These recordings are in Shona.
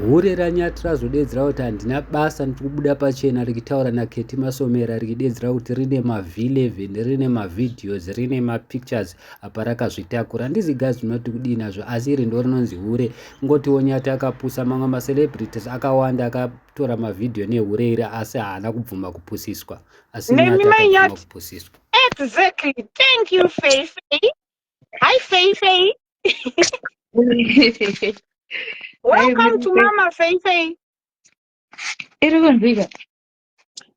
hure ranyati razodedzera kuti handina basa ndiri kubuda pachena rikitaura naketi masomera rikidedzera kuti rine mavhileven rine mavideos rine mapictures apa rakazvitakura handizi gazi rinoti kudii nazvo asi iri ndo rinonzi hure ngotiwo nyati akapusa mamwe macelebrities akawanda akatora mavhidhiyo nehure iri asi haana kubvuma kupusiswa asi nyati akabvuma kupusiswa exactly thank you fafe Hi, Faye Faye. Welcome to Mama Faye Faye. Iri kunzwika.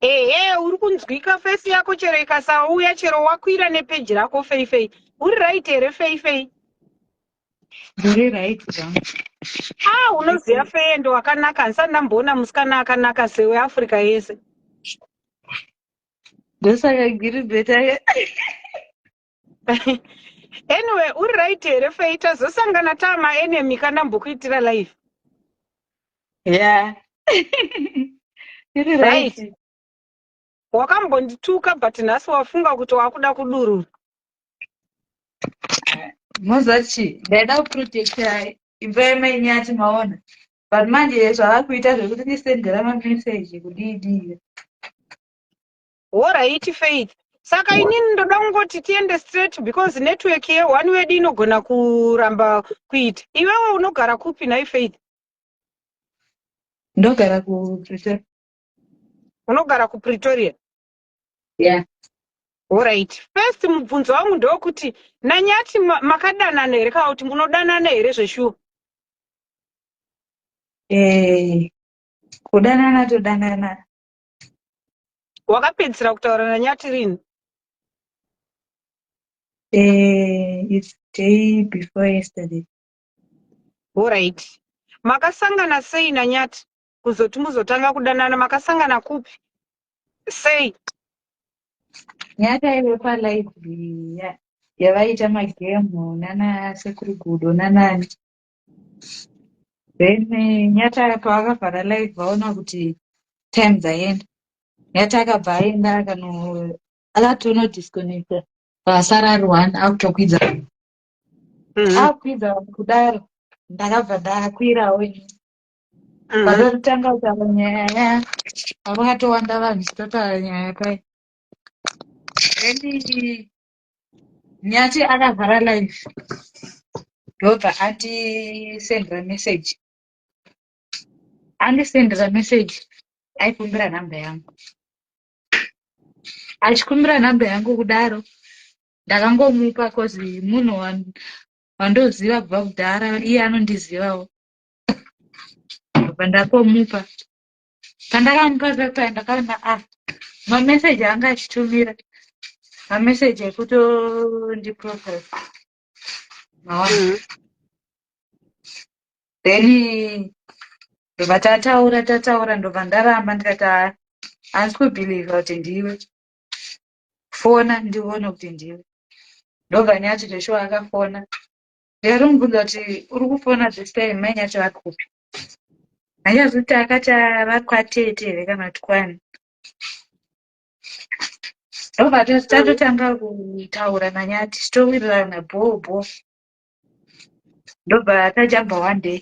Ehe, uri kunzwika face yako chero ikasauya chero wakwira nepeji rako Faye Faye. Uri right here Faye Faye? Uri right zvangu. Ah, unoziva Faye ndo wakanaka, handisati ndamboona musikana akanaka sewe Africa yese. Ndosaka giri beta anyway uri right here fei tazosangana taa maenemy ka ndambokuitira live yeah iri right wakambondituka but nhasi wafunga kuti wakuda kudurura moziva chii ndaida kuprotecta imba yamainyi ati maona but manje zvava kuita zvekuti ndisendera mameseji kudii dii Horaiti Faith. Saka inini ndoda kungoti tiende straight because network ye one wedu inogona kuramba kuita. Iwewe unogara kupi nhai Faith? Ndogara kuPretoria. Unogara kuPretoria? Yeah. Horaiti. First mubvunzo wangu ndokuti naNyati makadanana here kana kuti munodanana here zveshuwa? Eh, kudanana todanana wakapedzisira kutaura nanyati rini eh, it's day before yesterday orit makasangana sei nanyati kuzoti muzotanga kudanana makasangana kupi sei nyati aive palibrary yavaiita magemu nana sekuru gudo nanani then eh, nyata pavakavhara live vaona kuti time dzaenda nyata akabva aenda akano akatono disconnecta vasara ari one akutokwidza Mhm. akukwidza kudaro ndakabva ndakwirawo ini Mhm. vakatotanga kutaura nyaya yaya vakatowanda vanhu chitotaura nyaya pai then Nyati akavhara live ndobva andisendera message andisendera message aikumbira nhamba yangu achikumbira nhamba yangu kudaro ndakangomupa cause munhu wandoziva kubva kudhara iye anondizivawo ndobva ndakomupa pandakamupa pepa ndakaona a ah, mameseji anga achitumira mameseji ekutondiprofes maona mm-hmm. then ndobva tataura tataura ndobva ndaramba ndikati haa ah, handisi kubhilivha kuti ndiwe fona ndione kuti ndiwe ndobva nyati zveshuwa akafona Yari mubvunza kuti uri kufona this time mai nyathi vari kupi. Hanyazi kuti akati vari kwatete here kana kuti kwani. Ndobva tatotanga kutaura nanyati towirirana bhoo bhoo. Ndobva tajamba one day.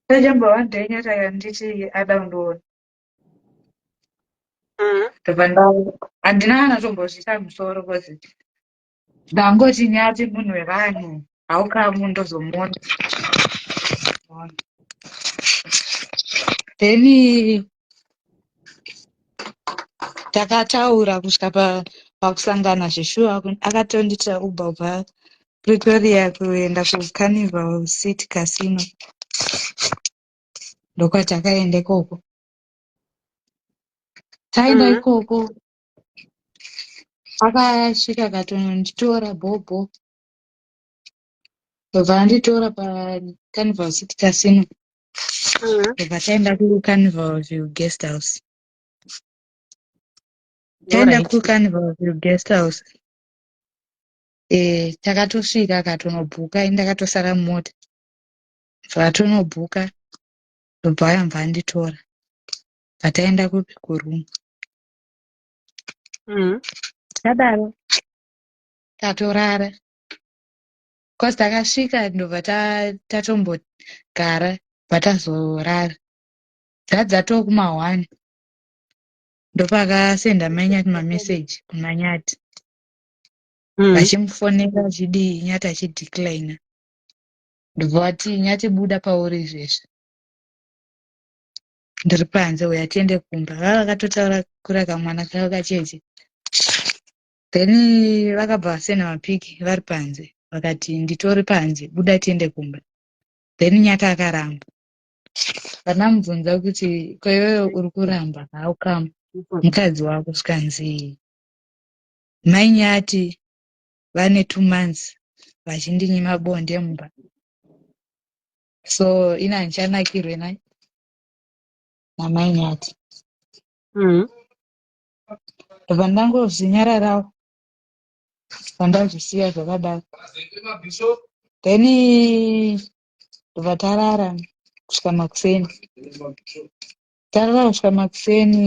Tajamba one day nyati akanditi ada kundiona. Mm-hmm. Ndobva nda handina kana tombozvisa musoro because Ndangoti nyati munhu wevanhu haukamu ndozomuona. Then takataura kusvika pa pakusangana zveshuwa akatondiitira uber kubva pretoria kuenda kucarnival city casino ndokwatakaenda ikoko taenda mm-hmm. ikoko akasvika akatononditora bhobho ndobva anditora pacarnival city casino ndobva taenda kucarnival view guest house taenda kucarnival view guest house eh takatosvika akatonobhuka ini ndakatosara mumota zvatonobhuka ndobva ayambva anditora pataenda kupi kuroom mm-hmm. takadaro tatorara bcause takasvika ndobva tatombogara bva tazorara dzadzatoo kuma one ndopakasenda manyati mameseji kumanyati mm. vachimufonera achidii nyati achideclina ndobva vati nyati buda pauri izvezvi ndiri panze uya tiende kumba vava vakatotaura kura kamwana kavo kacheche then vakabva vasena mapiki vari panze vakati nditori panze buda tiende kumba then nyaka akaramba vanamubvunza kuti koiweyo uri kuramba haukama mukadzi wako zvikanzii mai nyati vane two months vachindinyima bonde mumba so ini handichanakirwe na namai nyati mm. ndobva ndangozvinyararawo vandazvisiya zvakadaro then ndobva tarara kusvika makuseni tarara kusvika makuseni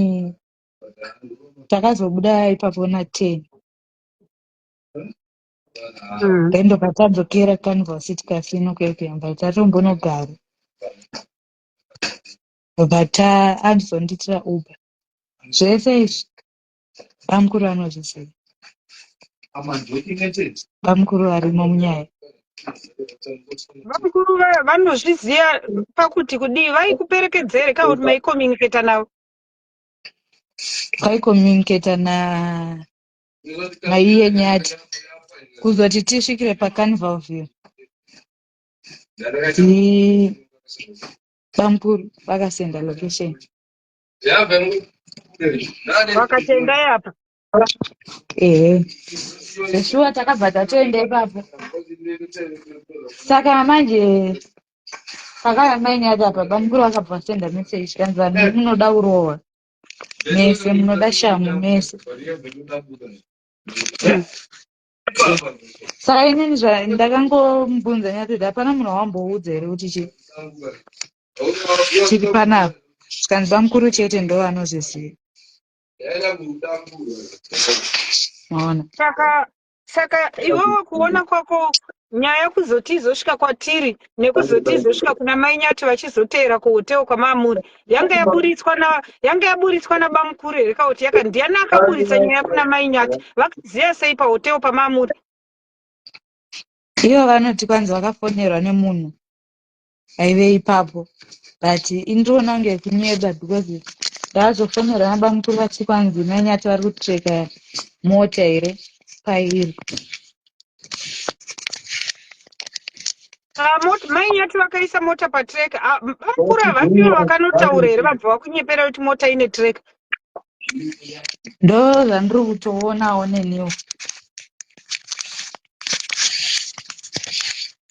takazobuda ipapo na ten then ndobva tadzokera canvas tikasino kuyakuyamba tatombonogara ndobva ta andizondiitira uber zvese izvi bamukuru anozviziva bamukuru varimo munyaya bamukuru vanozviziva pakuti kudii vaikuperekedzere ka kuti maicommunicata navo vaicommunicata na maiye nyati kuzoti tisvikire pacarnival view bamkuru vakasenda location vakatenda yapa ehe zveshuwa takabva tatoenda ipapo saka manje pakaya mainyati apa bamkuru vakabva vasenda message kanzi vanhu munoda kurohwa mese munoda shamhu mese saka inini zvandakangombunza nyatoti hapana munhu wawamboudza here kuti chii chiri panapa zvikanzi bamukuru chete ndo vanozviziva maona saka saka iwewe kuona kwako nyaya kuzoti izosvika kwatiri nekuzoti izosvika kuna mai nyati vachizoteera kuhoteo kwamaamuri yanga yaburitswa na yanga yaburitswa nabamukuru here kauti yaka ndiani akaburitsa nyaya kuna mai nyati vakaziva sei pahoteo pamaamuri ivo vanoti kwanzi vakafonerwa nemunhu aive ipapo but indriona kunge kunyeba because ndaazofonera nabamukuru vati kwanzi mai nyati vari kutreka mota here pairi ah, mai nyati vakaisa mota patrek ah, bamukuru havasivo vakanotaura here vabva vakunyepera kuti mota ine trek ndozvandiri kutoonawo neniwo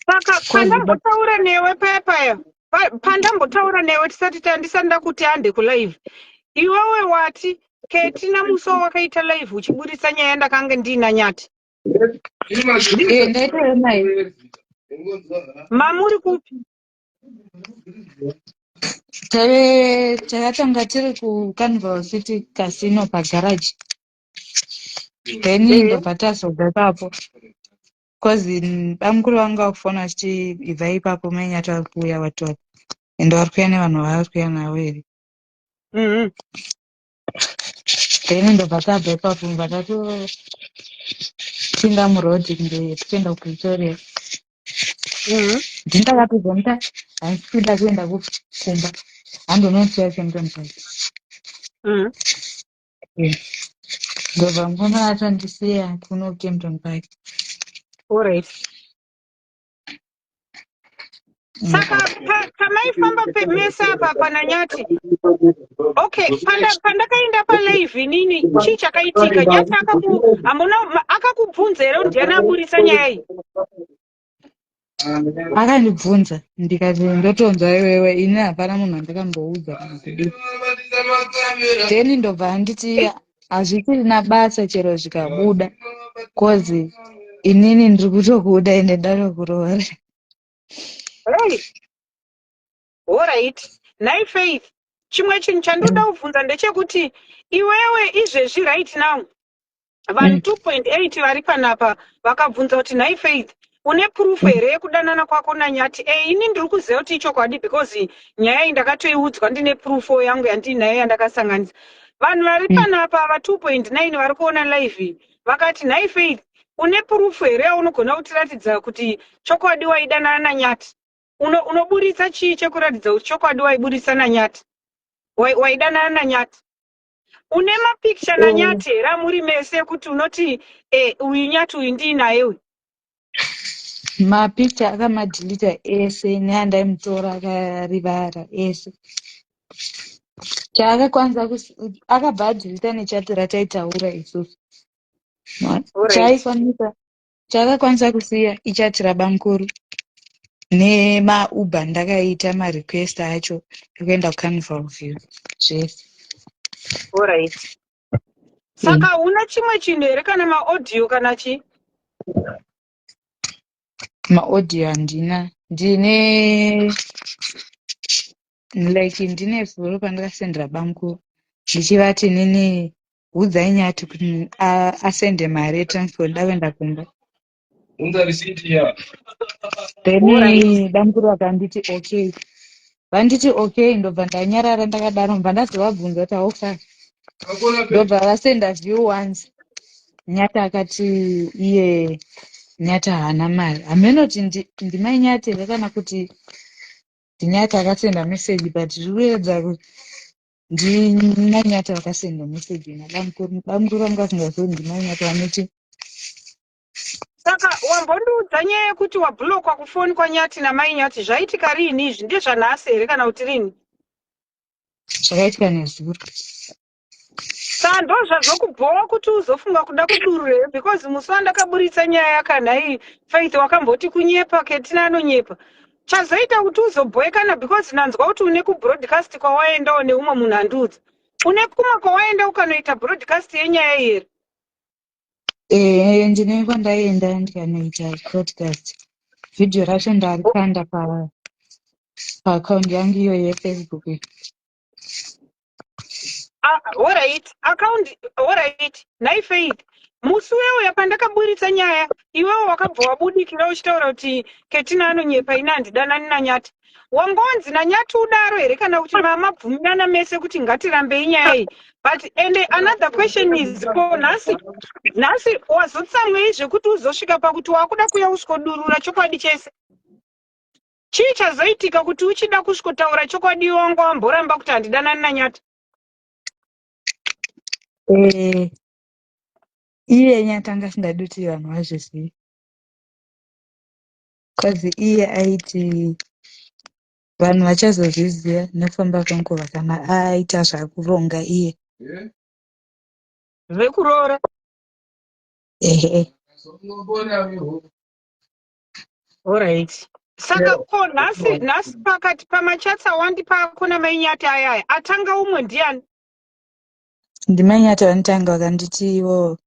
saka pandambotaura newe paya paya pandambotaura newe tisati tandisati ndakuti hande kulive iwewe wati keti namuso wakaita live uchiburitsa nyaya ndakange ndiina nyati mamuri kupi takatanga tiri kucarnival city casino pagaraji then ndobva tazobva ipapo bcause bamukuru vangu vakufona vachiti ibva ipapo mainyati vari kuuya vatova ende vari kuya nevanhu vavari kuya navo here mm-hmm. then ndobva tabva ipapo mva tatopinda muroad kunge tichienda kupretoria mm-hmm. ndindakatozomuta handisi kuda kuenda kumba handonotya chemutonikai mm-hmm. ndobva mukoma atandisiya kuno kempton park all right saka pamaifamba mese apa pananyati okay pandakaenda palive inini chii chakaitika nyati hambona akakubvunza here ndiani aburitsa nyaya iyi akandibvunza ndikati ndotonzwa iwewe ini hapana munhu andakamboudza then ndobva anditi hazvichirina basa chero zvikabuda cause inini ndiri kutokuda ende ndatokuroora right orit nhai faith chimwe chinhu chandoda kubvunza ndechekuti iwewe izvezvi right now vanhu 2.8 mm. vari panapa vakabvunza kuti nhai faith une proof mm. here yekudanana kwako nanyati e eh, ini ndiri kuziva kuti ichokwadi because nyaya iyi ndakatoiudzwa ndine proof yangu yandiinayo yandakasanganisa vanhu vari mm. panapa ava 2.9 vari kuona live iyi vakati nhai faith une proof here yaunogona kutiratidza kuti chokwadi waidanana nanyati unoburitsa chii chekuratidza kuti chokwadi waiburitsa nanyati waidanana nanyati une mapicture na nyati here amuri mese ekuti unoti eh, uyu nyati uyu ndiinaye uyu mapicture akamadhilita ese neandaimutora akarivara ese chaakakwanisa akabva adhilita nechati rataitaura isusu chaikwanisa Chakakwanisa kusiya ichati rabamkuru nemauber ndakaita marequest acho ekuenda kucarnival view zvese orit saka huna chimwe chinhu here kana maaudio kana chi maaudio handina ndine like ndine zuro pandakasendera bamkuru ndichivati nini udzai nyati kuti a- asende mari yetransfer ndoda kuenda kumba Unza receipt ya. then Alright. bamkuru vakanditi okay vanditi okay ndobva ndanyarara ndakadaro ndobva ndazovabvunza kuti how far Kakona pe. ndobva vasenda view once nyati akati iye nyati haana mari hameno kuti ndi- ndimai nyati here kana kuti Nyati akasenda message but zviri kuedza ndinanyati akasenda message na bamukuru bamukuru vanga vasingazivi ndinanyati vanoti saka wambondiudza nyaya yekuti wabhulokwa kufoni kwanyati namai nyati zvaitika riini izvi ndezvanhasi here kana kuti riini zvakaitika nezuro Sando zvazokubhowa kuti uzofunga kuda kudurura because musi wandakaburitsa nyaya yakanhai Faith wakamboti kunyepa Ketina anonyepa chazoita kuti uzobhoekana because nanzwa kuti une kubroadcast kwawaendawo neumwe munhu andiudza une kumwe kwawaenda ukanoita broadcast yenyaya here eh ndine kwandaenda ndikanoita broadcast video racho ndarikanda pa paaccount yangu iyo yefacebook Ah, horait akaundi horait nhai faith musi uyauya pandakaburitsa nyaya iwewo wakabva wabudikira uchitaura kuti ketina anonyepa ini handidanani nanyati wangonzi nanyati udaro here kana kuti mamabvumirana mese kuti ngatirambei nyaya iyi but and another question is ko nhasi nhasi wazotsamwei zvekuti uzosvika pakuti wakuda kuya usiko durura chokwadi chese Chii chazoitika kuti uchida kusvikotaura chokwadi wanga wamboramba kuti handidanani naNyati? Eh, iye Nyati anga asingadi kuti vanhu vazvizive. Cause iye aiti vanhu vachazozviziva nekufamba kwenguva kana aita zvakuronga iye. Zvekuroora? Ehe. Alright. Saka yeah. ko nhasi nhasi pakati pamachats awandipa akuna mainyati ayaya atanga umwe ndiani? Ndimainyati vanotanga vakanditi ivo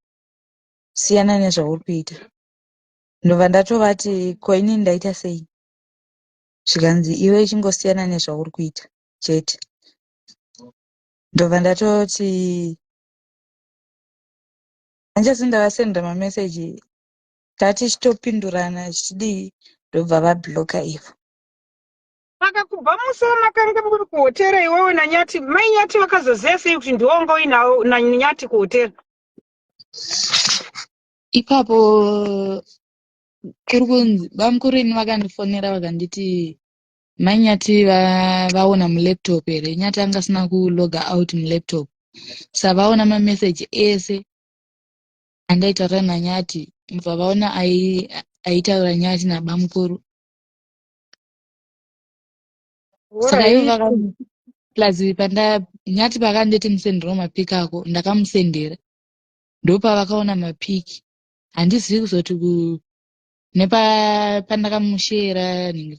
siyana nezvauri kuita. Ndobva ndatovati ko ini ndaita sei? Zvikanzi iwe chingosiyana nezvauri kuita chete. Ndobva ndatoti hanjasi ndavasenda mameseji tatichitopindurana zvichidii ndobva vabloka ivo saka kubva musi wamakanga muri kuhotera iwewe nanyati mai nyati vakazoziva sei kuti ndiwo wanga uinawo nanyati kuhotera ipapo kuri kunzi bamukuru ini vakandifonera vakanditi mai nyati vaona mulaptop here nyati anga asina kuloga out mulaptop sa vaona mameseji ese andaitaura nanyati mva vaona aitaura nyati nabamukuru saka ivo vaka plus pandanyati pakanditi musendero mapik ako ndakamusendera ndopavakaona mapik handizivi kuzoti nepandakamushera nhingi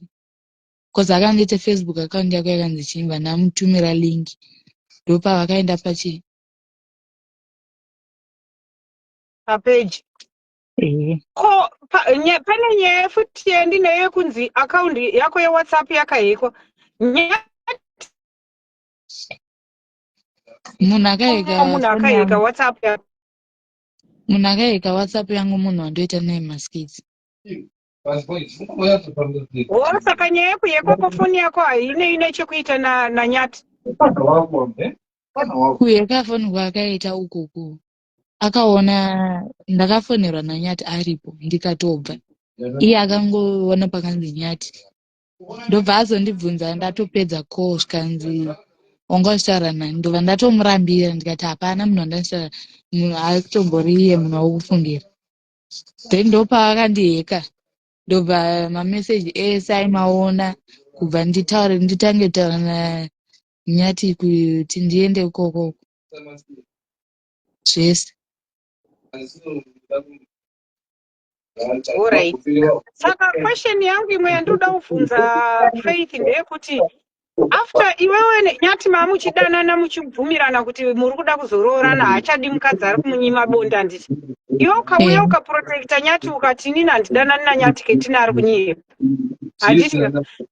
bcause akandiita facebook account yako yakanzi chimba ndamutumira link ndopavakaenda pachii papeji eh. ko pa, nye, pane nyaya futi yandinayo yekunzi akaundi yako yewhatsapp yakahekwa nyaya munhu akaheka munhu akaheka whatsapp yako munhu akaheka whatsapp yangu munhu wandoita naye maskits Wo saka nyaya yako yekoko foni yako haine ine chekuita na nanyati. Kuyeka foni kwakaita ukuku. Akaona ndakafonerwa na nyati aripo ndikatobva. Iye akangoona pakanzi nyati. Ndobva azondibvunza ndatopedza call zvikanzi wanga uchitaura nani ndobva ndatomurambira ndikati hapana munhu wandanditaura munhu akutombori iye munhu wakufungira then ndopaakandiheka ndobva mameseji ese aimaona kubva nditaure nditange kutaura nanyati kuti ndiende ikoko zvese Alright. Saka question yangu imwe yandinoda kuvhunza Faith ndeyekuti after iwewe ne- nyati mamuchidanana muchibvumirana kuti muri kuda kuzoroorana haachadi mukadzi ari kumunyima bonde handiti iwe ukauya Eh. ukaprotecta nyati ukati inini handidanani nanyati ketini ari kunyepa handiti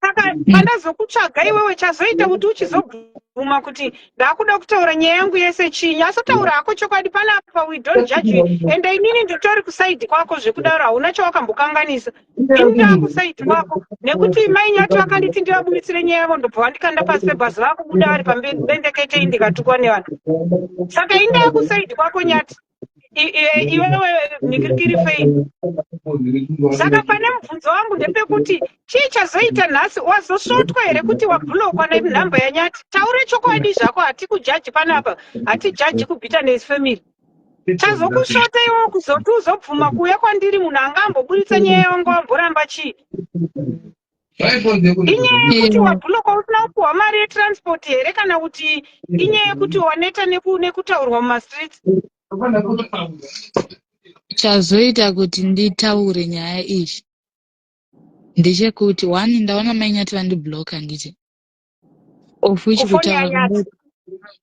saka pandazokutsvaga iwewe chazoita kuti uchizobvuma kuti ndakuda kutaura nyaya yangu yese chinyi asotaura hako chokwadi panapa we don't judge you and inini nditori kusaidi kwako zvekudaro hauna chawakambokanganisa indangu saiti wako nekuti mai nyati vakanditi ndivabuditsire nyaya yavo ndobva vandikanda pasi pebhazi vakubuda vari pamberi bendeketei ndikatukwa nevanhu saka indangu saiti kwako nyati iwewe nikirikiri fei saka pane mubvunzo wangu ndepekuti chii chazoita nhasi wazosvotwa here kuti wabhulokwa nenhamba yanyati taure chokwadi zvako hatikujaji panapa hatijaji kubhita nes family Chazokushota iwe kuzoti uzobvuma kuuya kwandiri munhu anga amboburitsa nyaya yangu amboramba chii? Inyaya yekuti wabhuloka usina kupuhwa mari yetransport here kana kuti inyaya yekuti waneta nekutaurwa mumastreets? Chazoita kuti nditaure nyaya iyi ndechekuti one ndaona mainyati vandibhuloka handiti? of which kutaura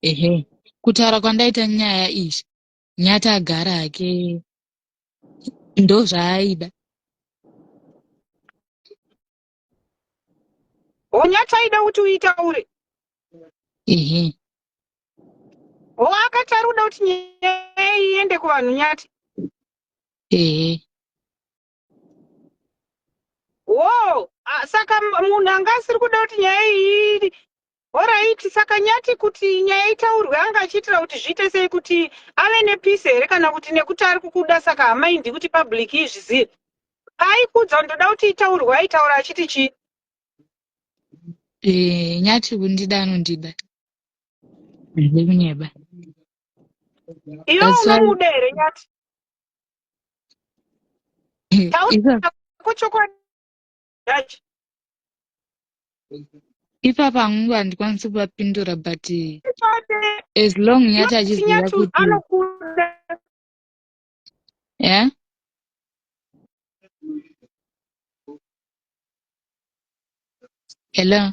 ehe kutaura kwandaita nyaya izvi nyati agara hake ndozvaaida onyati aida kuti uita uri ehe ho akati ari kuda kuti nyaya iende kuvanhu nyati ehe wo saka munhu anga asiri kuda kuti nyaya iyi oraiti saka nyati kuti nyaya itaurwe anga achiitira kuti zviite sei kuti ave nepisi here kana kuti nekuti ari kukuda saka hamaindi kuti public izvizive paaikuudza kuti ndoda kuti itaurwe aitaura achiti chii eh, nyati kundida anondida ndide kunyeba iwe unomuda here nyati ipapa hangu handikwanisi kuvapindura but as long nyati achiziva kuti yeah? hello